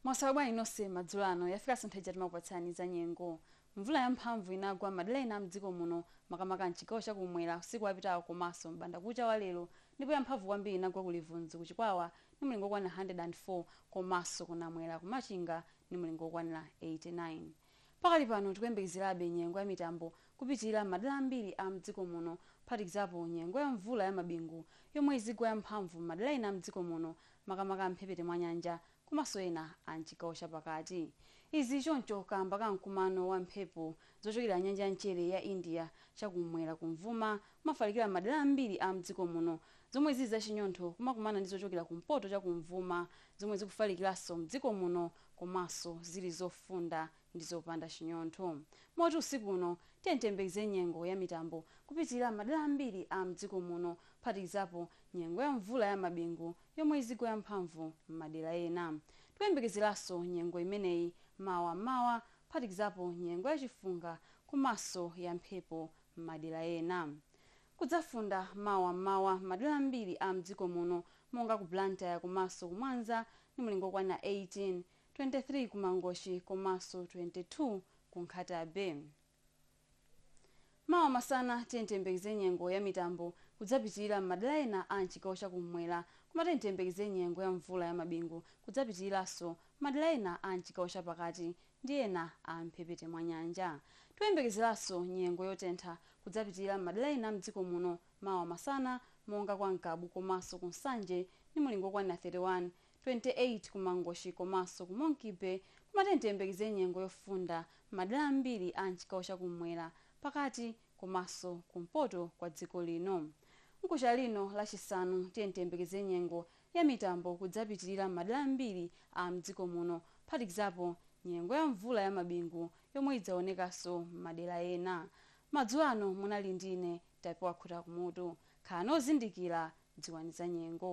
mwaswera bwanji nonse madzulo ano yafika nthawi ija timakupatsirani za nyengo mvula yamphamvu inagwa madera ena a mdziko muno makamaka mchigawo chakumwera usiku wapitawo komanso m'banda kucha wa lero ndipo yamphamvu kwambiri inagwa ku livunzu ku chikwawa ndi mlingo wokwanira 104 komanso ku namwera ku machinga ndi mlingo wokwanira 89 Pakali pano tikuyembekezerabe nyengo ya mitambo kupitilira m'madera ambiri a m'dziko muno kuphatikizapo nyengo ya mvula ya mabingu yomwe izigwa ya mphamvu m'madera ena a m'dziko muno makamaka a m'mphepete mwa nyanja komanso ena a m'chigawo cha pakati. Izi zili choncho kaamba ka mkumano wa mphepo zochokera nyanja ya mchere ya India cha kum'mwera kumvuma kumafalikira m'madera ambiri a m'dziko muno zomwe zili zachinyontho kumakumana ndi zochokera kumpoto cha kumvuma zomwe zikufalikiranso m'dziko muno komanso zili zofunda ndi zopanda chinyontho. Moti usiku uno tiyeni tiyembekeze nyengo ya mitambo kupitilira m'madera ambiri a m'dziko muno kuphatikizapo nyengo ya mvula ya mabingu yomwe izigwa ya mphamvu m'madera ena. Tikuyembekezeranso nyengo imeneyi mawa m'mawa kuphatikizapo nyengo ya chifunga komanso ya mphepo m'madera ena. Kudzafunda mawa m'mawa m'madela ambili a m'dziko muno monga ku Blantyre komanso ku Mwanza ndi mlingo wokwana 18, 23 ku Mangochi komanso 22 ku Nkhata Bay. Mawa masana tiyeni tiyembekeze nyengo ya mitambo kudzapitilila m'madela ena a m'chigawo cha kum'mwera koma tiyeni tiyembekeze nyengo ya mvula ya mabingu kudzapitililanso m'madela ena a m'chigawo cha pakati ndi ena a m'mphepete mwa nyanja. Tikuyembekezeranso nyengo yotentha kudzapitilira m'madera ena a m'dziko muno mawa masana monga kwa Ngabu komanso ku Nsanje ndi mulingo okwanira 31, 28 ku Mangochi komanso ku Monkey Bay koma tiyeni tiyembekeze nyengo yofunda m'madera ambiri a m'chigawo cha kum'mwera, pakati komaso kumpoto kwa dziko lino. Mkuja uno lachisanu tiyeni tiyembekeze nyengo ya mitambo kudzapitilira m'madera ambiri a m'dziko muno kuphatikizapo nyengo ya mvula ya mabingu yomwe idzaonekanso m'madera ena. Madzulo ano munali ndi ine Tapiwa Khutakumutu. Khalani ozindikira, dziwani za nyengo.